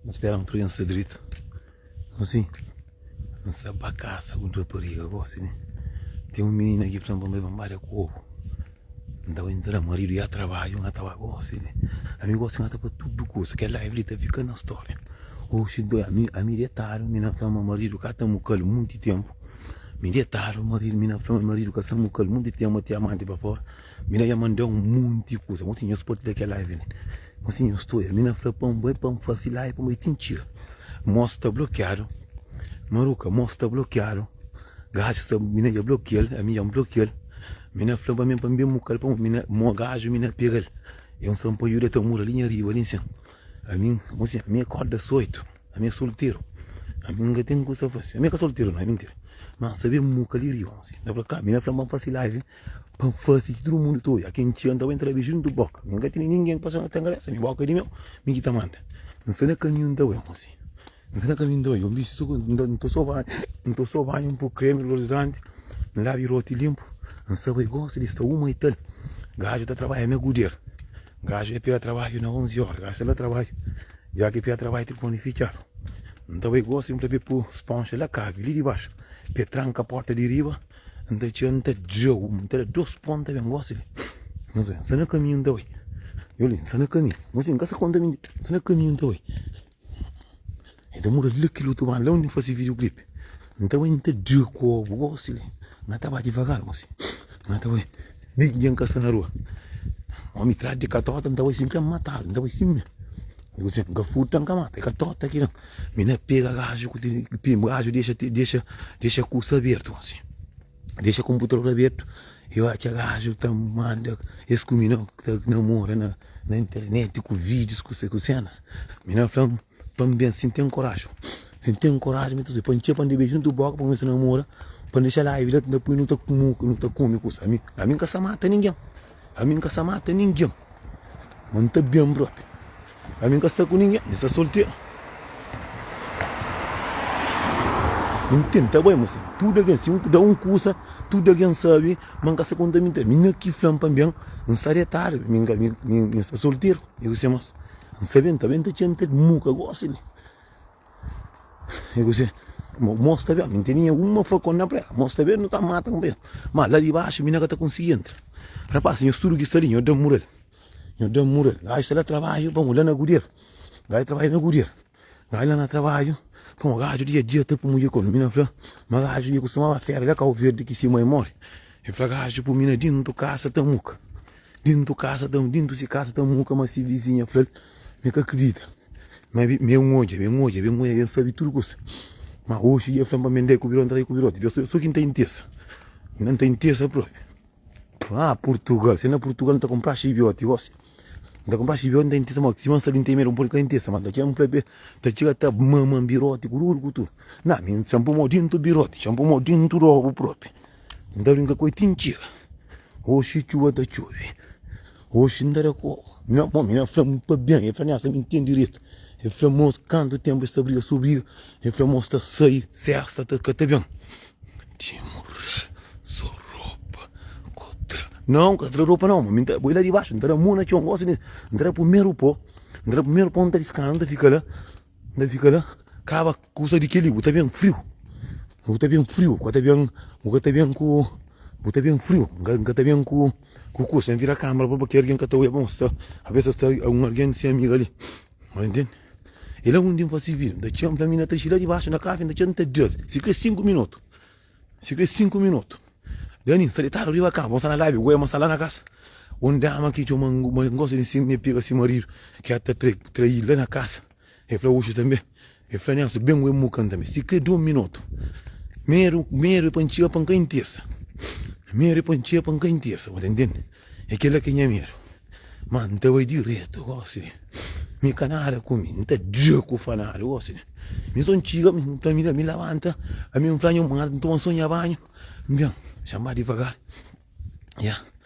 N spera n prensa dretu Asi N sa ba kasa ku un rapariga Gosi di ten un mininu aki Fla-m pa N bai banbaria ku obu N ta bai N ta da maridu ya trabadju N ta ba gosi di Ami gosi ngata pa tudu kusa Kel live li ta fika na storia Oxi dói ami Ami detadu Mi na fla ma maridu ka ta mukal Munti ténpu Mi detadu maridu Mi na fla ma maridu ka sa mukal Munti ténpu Mete amanti pa fora Mi na ya mandá un monti kuza. Nhosi nhos partilha kel live li. Nhosi nhos studa. Mi na fla pa N bai pa N fase live pa N bai ti N txiga. Mô sta blokiadu. Maruka, mô sta blokiadu. Gaju sta, mi na ya blokia-l. Ami dja N blokia-l. Mi na fla-m pa mi pa N ben buka-l pa mi na, mô gaju mi na pega-l. É un sanpaiuda ta mora li nha riba li nsin. Ami, nhosi nha, ami akorda ás oitu. Ami é solteru. Ami N ka ten kusa fase. Ami ka solteru nau, é mintira. Má N sta ben muka li riba, nhosi. N ta fla, ka, mi na fla-m pa N fase live. Pa N fase ki tudu mundu ta oja Ken txeu N ta bai N ta da biju N ta boka Mi N ka tene ningen pa sona ten kabesa Mi boka di meu Mi ki ta manda N sta na kaminhu N ta bai Mostra-m N sta na kaminhu N ta bai Gon bisti so N ta N ta so banhu N ta so banhu N po kremi olorizante N labi roti linpu N sa bai gosi di sta uma ital Gaju ta trabadja na guder Gaju e pega trabadju na onzi ora Gaju sta na trabadju Dja ki e pega trabadju tilifoni fitxadu N ta bai gosi N fla pa e po sponxa la kabi Li dibaxu Pa e tranka porta di riba. N ta txeu, n ta djeu, n ta da dos pô, n ta ben gosi li N ta bai, n sta na kaminhu, n ta bai Yo li, n sta na kaminhu, mo si n ka sa konta minti N sta na kaminhu, n ta bai E ta mura la kil otu ban, la undi N fase videoclip N ta bai, n ta djeu kô, bu gosi li N a ta ba divagar, mo si N a ta bai Nih ningen ka sta na rua Omi trás di katota, n ta bai si N kre matadu, n ta bai si mi N ka furta, n ka mata, e katota ki da-m Mi na pega raju ku tiri pim raju dexa dexa dexa kursa abertu si dexa konputador abertu i ora ki raju ta manda es ku mi na ta namora na na interneti ku vidius ku se ku senas mi na fla pa mi ben si n ten koraju si n ten koraju mi ta sibi pa n txia pa n da beju n ta boka pa kumesa namora pa n dexa la i la ta pui nu ta kumu nu ta kume kusa ami ami n ka sa mata ningen Ami N ka sta mata ningen, ma N ta ben propi. Ami N ka sta ku ningen, mi sta solteru. Mi N tenta bai, ma sin tudu algen, si N da un kusa, tudu algen sabe ma N ka sta konta mintira. Mi na ki fla-m pa N ben, N sta retadu, mi N ka, mi N sta solteru. I kuse más? N sabe, N ta ben ta txenta-l, mi ka gosi li. E gosi, mo mos ta ben, mi ntende nha uma flakon na prega, mos ta ben nu ta mata un pa es, ma la di baxu mi na ka ta konsigi entra, rapaz nhos tudu ki sta li nhos da murel, nhos da murel, gaji sta la trabadju pamo la na gudier, gaji trabadja na gudier, gaji la na trabadju pamo gaju dia dia ta pumi ki komu mi na fla ma gaju ki kustumaba fera la kau verdi ki si mai mori e fla gaju pumi na dintu kasa ta muka, dintu kasa ta dintu si kasa ta muka ma si vizinha flal. Mi ka kridita. Ma mi ben odja, ben odja, ben odja, ben sabe tudu kusa. Ma oxi dja fla-m pa mi ndai ku Biron trai ku Birote. Dja so ki N ta intesa. N na ta intesa propi. Haa Purtugal, se na Purtugal N ta kunpra xibiote gosi. N ta kunpra xibiote, N ta intesa ma sima N sta li N ta imera. N pode ka intesa ma ta txega, N fla be, ta txega ta mama-m Birote ku tudu ku tudu. Na, mi N txanpa mo dintu Birote, txanpa mo dintu robu propi. N ta brinka ku el ti N txega. Oxi txuba ta txobe. Oxi n ta da kó. Mi na bom, mi na fla-m pa ben. El fla mi, asa mi ntende diretu. El fla mo, kantu tenpu es ta briga so briga. El fla mo, es ta sai. Se es ta ta ka ta ben. Ti murrel, so ropa n ka tra. Nau, n ka tra ropa nau. Ma mi ta bai la dibaxu, n ta da mo na txon. Gosi di n ta da primeru pó. N ta da primeru pó, n ta diskasa, n ta fika la. N ta fika la, kaba. Kusa di kel-li, bu ta ben friu. Bu ta ben friu. N ka ta ben, bu ka ta ben ku, bu ta ben friu. N ka ta ben ku kusa. N vira kámara pa baki. Algen ka ta odja bon. Sta, alvês sta sta un algen di se amigu ali. Bo ta intende? É la undi N fase vídiu. N ta txê-m, fla-m, mi na Trixi, la dibaxu na kafi. N ta txê-l, N ta di-l, si krê sinku minotu, si krê sinku minotu, Dani, N sta detadu riba kama, bo sta na lábi, goema sta la na kasa. Un dama ki txoma-m, ma N gosi di sima, mi pega si maridu, ki a ta tra, trai-l la na kasa. El fla uxi tanbe, el fla Nelson, ben ue mukan tanbe, si kre dun minotu, meru, meru pa ntxia pa nka ntesa, meru pa ntxia pa nka ntesa, bu ta ntende, e kela ke nha meru, ma nta bai diretu gosi de, mi ka nada ku mi, nta dia ku fa nada gosi de, mi so ntxiga, mi nta mi da mi labanta, ami nfla nha mãe, nta bai nson nha banhu, nben, xanba divagar, ya.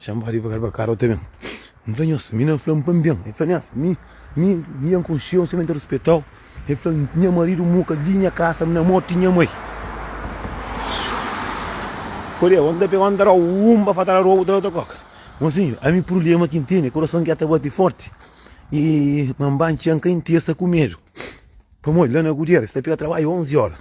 Txan ba divagar ba kara ote ben N fla nhos, mi na fla-m pa-m ben El fla nhas, mi, mi, mi nha N konxe-u sima N ta rispeta-u El fla nha maridu muka li nha kasa N na morti nha mai Kodê ondi ta pega ondi ta roba Un ba fatal roba ote la ta koka Mosinhu ami prublema ki N tene Kurason ki-a ta bati forti Y ma-m ba-m txan ka intesa ku medu Pamodi la na Gudiera es ta pega trabadju onzi ora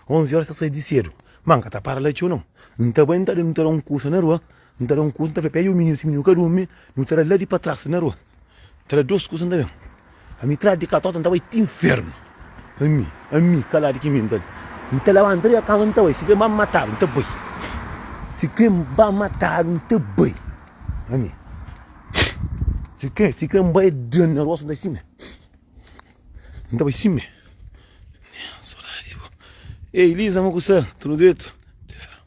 Onzi ora es ta sai di sedu Ma N ka ta para la txeu nau N ta bai N ta da un kusa na rua N ta da un kusa, N ta fla, Pega un mininu, si mininu ka durmi, nu tra-l la di pa tras na rua. N ta da dôs kusa, N ta ben. Ami tra-l di katota, N ta bai ti infernu. Ami, ami, kaladu ki mi, N ta da. N ta labanta di kama, N ta bai. Si kre-m ba mata-l, N ta bai. Si kre-m ba mata-l, N ta bai. Ami, si kre, si kre-m bai da-l na rostu, N ta bai sime. N ta bai sime. Ey, Liza, mo ku sta? Tudu dretu? Tchau.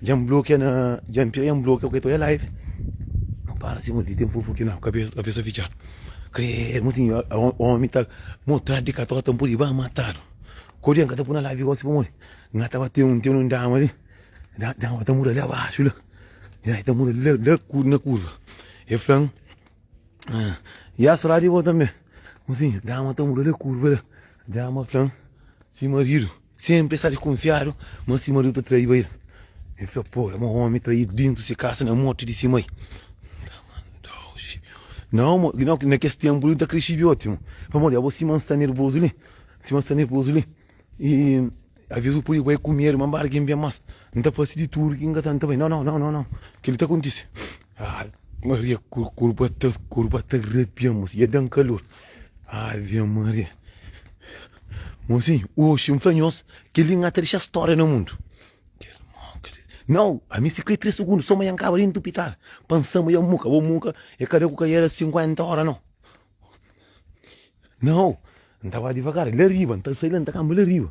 Dja N blokia na Dja N pega dja N blokia ok ta oi live N para si modi ten fufu ki na kabesa fitxa Kredo ma sinhor omi ta motradu di kator ta N pudi ba matadu Kodje N ka ta puna live gosi pamodi N ta ba ten un ten un dama li dama ta mura li abaxu la ya e ta mura la la na kurva e flan ya sra di bo tambe ma sinhor dama ta mura la kurva la dama flan si maridu. Senpri el sta dikunfiadu ma si maridu ta traiba el. El fika pobi, ma un omi traidu dintu si kasa na morti di si mai. Nau, ma na kes tenpu li, N ta kre sibi oti un. Pamodi abo sima N sta nervozu li, sima N sta nervozu li, i aves bu pudi bai ku medu ma N ba algin ben mas. N ta fasi di tudu ki N ka ta, N ta bai. Nau, nau, nau, nau, nau, kel-li ta kontise. Ave Maria kurba ta kurba ta arrepia moço ia dan calor Ave Maria moçinho oxe nfla nhos keli nha ta deixa história na mundo não a mi se kre três segundos só ma nha kaba dentro do hospital pansa ma ia muka bo muka e kada ku ka era 50 hora não não ntava devagar la riba nta sai la nta kamba la riba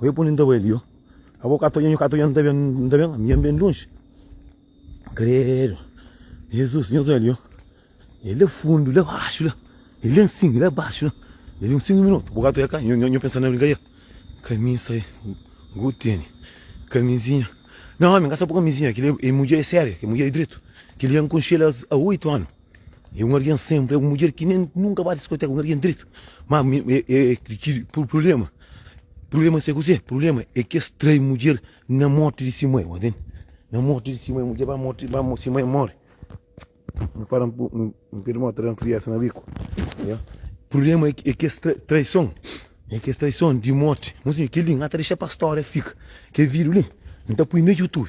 Oia pa undi N ta bai li ô Abo ka ta odja, nho ka ta odja, N ta ben, N ta ben, ami N ben lonji Kredo Jezus, nho ta odja li ô E la fundu, la baxu la E la nsin, la baxu la E li un singu minutu, bo ka ta odja ka Nho, nho pensa na brinkadera Kamisa e ku teni Kamizinha Nau ami N ka sta pa kamizinha Kel-li é mudjer, é séria Kel-li é mudjer di dretu Kel-li N konxe-l a oitu anu. É un algen senpri, é un mudjer ki nen nunka ba diskoteka, un algen dretu. Má prublema, prublema sabe kuzê? Prublema é ki es trai mudjer na mórti di se mai, bo tende? Na mórti di se mai, mudjer ba mórti, ba se mai móre. N fala un pé di mó ta da-m friesa na biku. Prublema é ki es traison, é ki es traison di mórti, kel li N ka ta dexa pa stória fika. Kel vídiu li N ta poi na YouTube.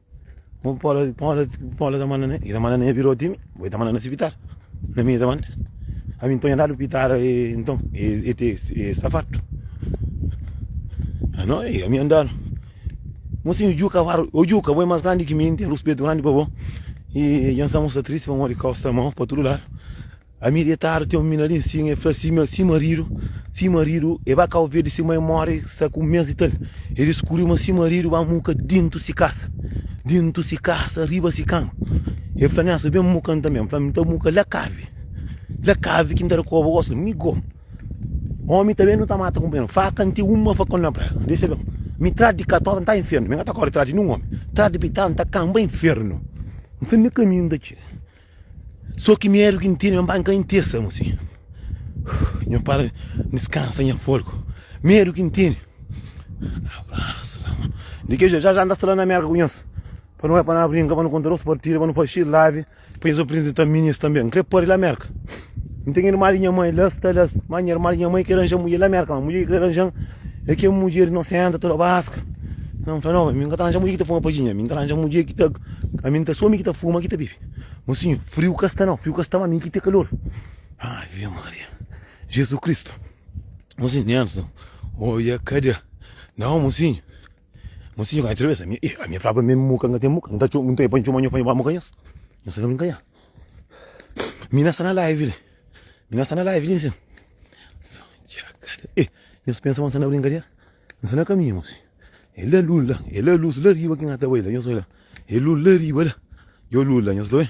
Bo pode pode pode ta manda ne i ta manda ne bira otimi bo i ta manda na sipital na mi i ta manda ami nton i da lupitar nton e te e sta fartu a no i ami andar mo sinhu juka a waru o juka bo e mas grandi ki mi i ten ruspetu grandi pa bo i i nsamu sta tristi pamodi kau sta mau pa tudu ladu Ami detadu ten un mina li nsin el fla si ma si maridu si maridu e ba kau verde si mai mori sta ku un mes di tal e diskuriu ma si maridu ba muka dintu si kasa dintu si kasa riba si kama el fla mi asa ben muka nta mi fla mi nta muka la kavi la kavi ki nta da koba gosi mi go omi ta ben nu ta mata kunpanheru faka nti uma faka un na praia dexa ben mi tradu di katota nta infernu mi ka ta kore di tradu di nin omi tradu di pitala nta kanba infernu nta na kaminhu nta txiga Só ki mi éra ki intende, ma N ka intende sa gosi. Nho para, N diskansa nha folgu. Mi éra ki intende. Abrasu na mon. Di ke jé, ja-ja N ta sta la na Mérka ku nhos. Pa nu bai, pa na brinka, pa nu konta dôs partida, pa nu faxi live, pa nhos apresenta mi nhos tanbe. N krê pâpia la Mérka. N ten irma di nha mãe la sta la Má nha irma di nha mãe krê ranja mudjer la Merka Má mudjer ki krê ranja-m é kel mudjer inosenta, toda baska Nton N fla, nau, mi N ka ta ranja mudjer ki ta fuma padjinha Mi N ta ranja mudjer ki ta Ami N ta sô mi ki ta fuma, ki ta bebe Má sinhor, friu ka sta nau, friu ka sta Má mi ki ta kalor Ave Maria Jezu Kristu Mosinhu, Nelson Oiâ, Kadê Nau, mosinhu Mas si nhu ka nha txabesa, ami, eh, ami falaba meme muka nga ten muka, nhu ta txo, nhu ta e pa ntxoma nhu pa nhu ba muka nhos, nhu sa ka bin kanha. Mi na sta na live li, mi na sta na live li nsin. Eh, nhos pensa ma nhu sta na brinkadera? Nhu sta na kaminhu si. E la lus la, e la lus la riba ki nga ta bai la, nhos oi la, e lus la riba la, e o lus la nhos ta oi.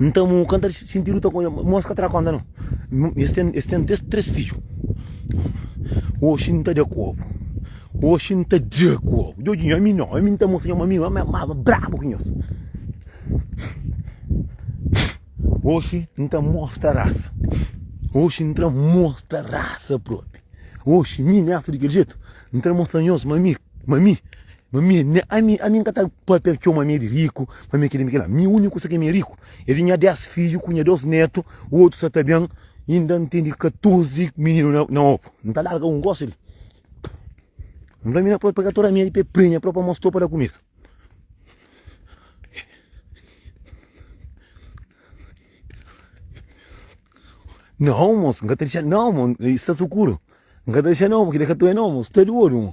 Nta mu ka nta sinti luta ku nhos, nhos ka tra konta no. Es ten, es ten três, três fidju. Oxi N ta da ku obu, oxi N ta da ku obu. Djodjinho, ami nau, ami N ta mostra nha ma ami maba brabu ku nhos. Oxi N ta mostra rasa, oxi N ta mostra rasa propi. Oxi mi, miastu di kel jetu, N ta mostra nhos ma mi, ma mi. Ma mi, ami, ami N ka ta papia txeu ma mi é di riku, ma mi é kel-li, mi é kel-la Mi úniku sa ki mi é riku é di nha dés fidju ku nha dôs nétu Otu sa ta ben, inda N ten di katorzi mininu na na opu N ta larga un, gosi li N fla mi na própi pega tor amedi pa el prenha própi pa mos-tou pa da kumida Nau, mos, N ka ta dexa-l nau, mo, i sta sukuru N ka ta dexa-l nau, mo, kel-li é ka tor é nau, mo, sta di ôdu, mo.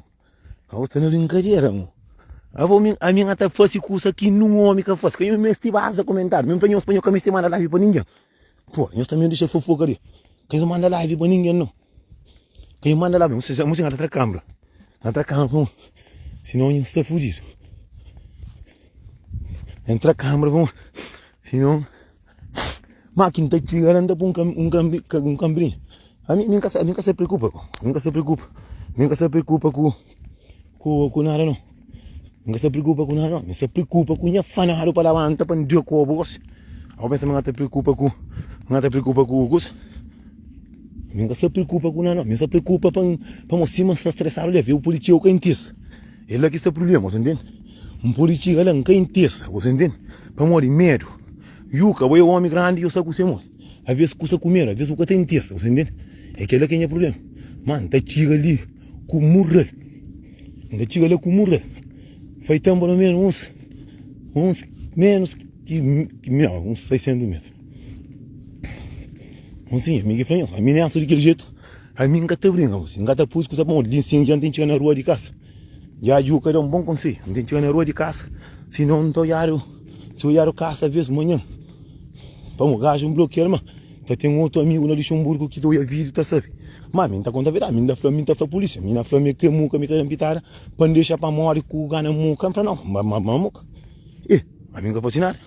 Abo sta na brinkadera mo. Abo min, a min ata fasi kusa ki nun omi ka fasi. Ka yo mesti baza komentadu. Min pa nhos, pa nhos ka mesti manda live pa ningen. Po, nhos tanbe dixa fofoka li. Ka nhos manda live pa ningen no. Ka nhos manda live. Amo sincero, amo sincero, atra kambra. Atra kambra pa mo. Sinon nhos sta fudidu. Entra kambra pa mo. Sinon, Má ki N ta txiga la, N ta poi un kanbrin. Ami mi ka mi ka sta preokupa ko. Mi ka sta preokupa. Mi ka sta preokupa ku ku nada nau. Mi ka sta preokupa ku nada nau. Mi sta preokupa ku nha fanadu pa labanta pa N djobe ku obu gosi. Ô pensa ma N ta preokupa ku N ta preokupa ku kusa? Mi ka sta preokupa ku nada nau. Mi sta preokupa pa N, pa mo sima N sta stresadu li. Avé un pulitsia, un ka intesa. El la ki sta prubléma, bo ta ntende? N pode txiga la, N ka intesa. Gosi entende? Pamodi medu. Yuka, bo é omi grandi, yo sta ku se modi. Aves kusa ku medu, aves bu ka ta intesa. Gosi entende? É kel-la ki é nha prubléma. Má N ta txiga li ku murda-l. N ta txiga la ku murda-l. Fai ténpu almenu uns, uns ménus ki uns 600 métru. Bon, si, ami ki fla nhos, aminesa di kel jetu, ami N ka ta brinka, gosi. N ka ta poi-s kusa pamodi li sin dja N ten txiga na rua di kasa. Ya dju ka da un bon konsei N ten txega na rua di kasa Si non N ta oiadu Si oiadu kasa vez manha Pamo gaju N blokial ma Ta ten otu amigu na Luxemburgu Ki ta oia video ta sabe ma Mi N ta konta verdadi Mi N ta fla Mi N ta fla polisia Mi na fla mi kre muka mi kre da pitada Pa N dexa pa mori ku gana muka N fla no ma ma ma muka e ma mi N ka fasi nada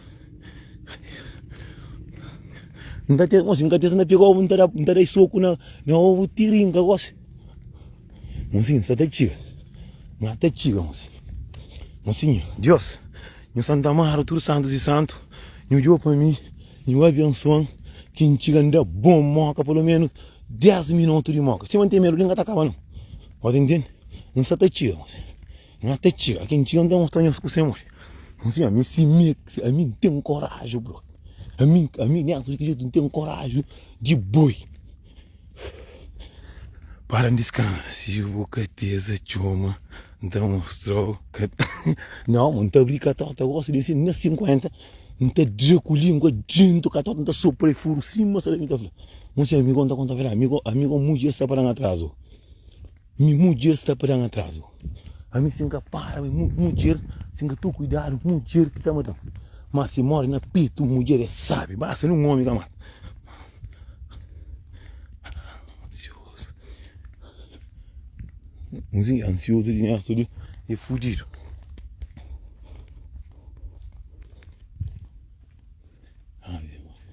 N ta tesa gosi N ka tesa na pegau N ta da N ta dai soku na na ovu ti ri N ka gosi Nhos sim sa ta txiga nha ta txiga nhos nhos sim Dios nhu sa ta mara tudu santus di santu nhu djo pa mi nhu abensuan ki nhu txiga nda bon moka pelo menus 10 minutu di moka sima nhu ten melodi nhu ka ta kaba no nhos ta ntende nhu sa ta txiga nhos nha ta txiga ki nhu txiga nhu ta mostra nhos ku se modi nhos sim ami si mi ami nten koraji bro ami ami nhu ten koraji di boi Para n diskansa si bu ka teza txoma N ta mostra-u ka ta Nau mon, N ta abri katóta gosi di sin na sinkuénta N ta dra ku língua djéntu katóta N ta sopra i furu sima salami N ta fla, Mon si amigo, N ta konta, Amigo, amigo, un mudjer sta pa da-m atrazu. Mi mudjer sta pa dan atrazu Ami si N ka para mi mudjer Si N ka tu kuidadu mudjer ki ta matan Má si mori na petu mudjer é sabi Basta nen un omi ka mata Ansiozu Un si ansiozu di nersu li é fudidu Ave Maria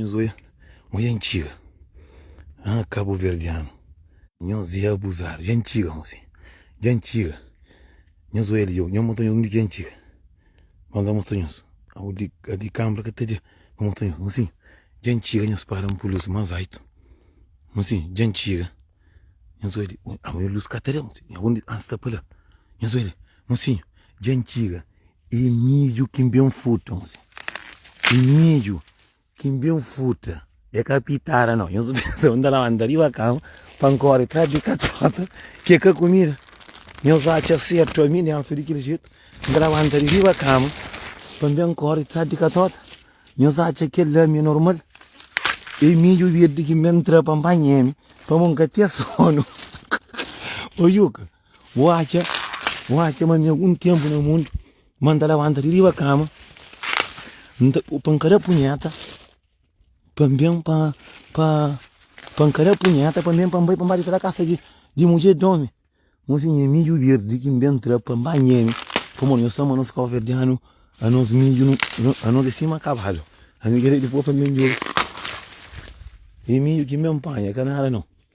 Nhos oi oi antiga ah kabuverdianu nhos ê abuzadu dja antiga mo si dja antiga nhos oi li nhos mostra nhos undi ki antiga vamos la mostra nhos audi adi kambra ka ta dja nhos mostra nhos mosi dja antiga nhos para un pulusu mas aitu mosi dja antiga nhos oi li ama nhos lus ka ta da mosi aonde ah sta pa la nhos oi li. Mosinhu, dja N txiga. É midju ki N ben futa, mosinhu. É midju ki N ben futa, é ka pitara, nau. Nhos pensa ma N ta labanta riba kama pa N kóre trás di katxóta, ki é ka kumida? Nhos atxa sertu ami, Nélson, di kel jetu? N ta labanta di riba kama pa N ben kóre trás di katxóta? Nhos atxa kel-la mi é normal? É midju virdi ki N ben tra pa N panha-m, pamodi N ka ten sónu. Ô Juka! Bu atxa, bu atxa ma na algun ténpu na mundu ma N ta labanta di riba kama N ta, pa N ka da punheta pa N ben pa, pa, pa N ka da punheta pa N ben pa N bai pa N ba di tra kasa di, di mudjer di omi? Mon si nha midju berdi ki N ben tra pa N ba nheme pamodi nhos ta ama nos kabuverdianu anos midju nu, nu, anos é sima kabadu ami kre di poi pa N ben djobe e midju ki N ben panha ka nada nau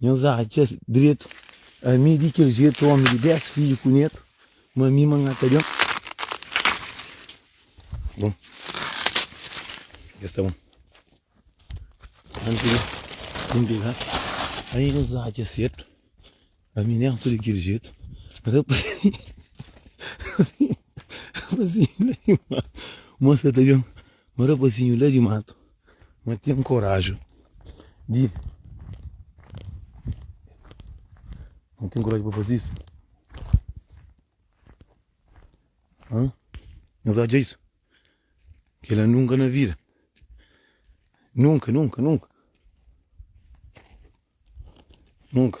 Nhos atxa dretu ami di kel jetu omi di 10 fidju ku netu ma mi ma nha ta ben bon es ta bon anti di bin pegal ai nhos atxa sertu Aminésu di kel jetu Rapazinhu la di matu Mô sa ta ben Ma rapazinhu la di matu Ma ten koraju di Ma ten koraju pa faze isu Hã? Nhos odja isu? Kela nunka na vida Nunka, nunka, nunka Nunka.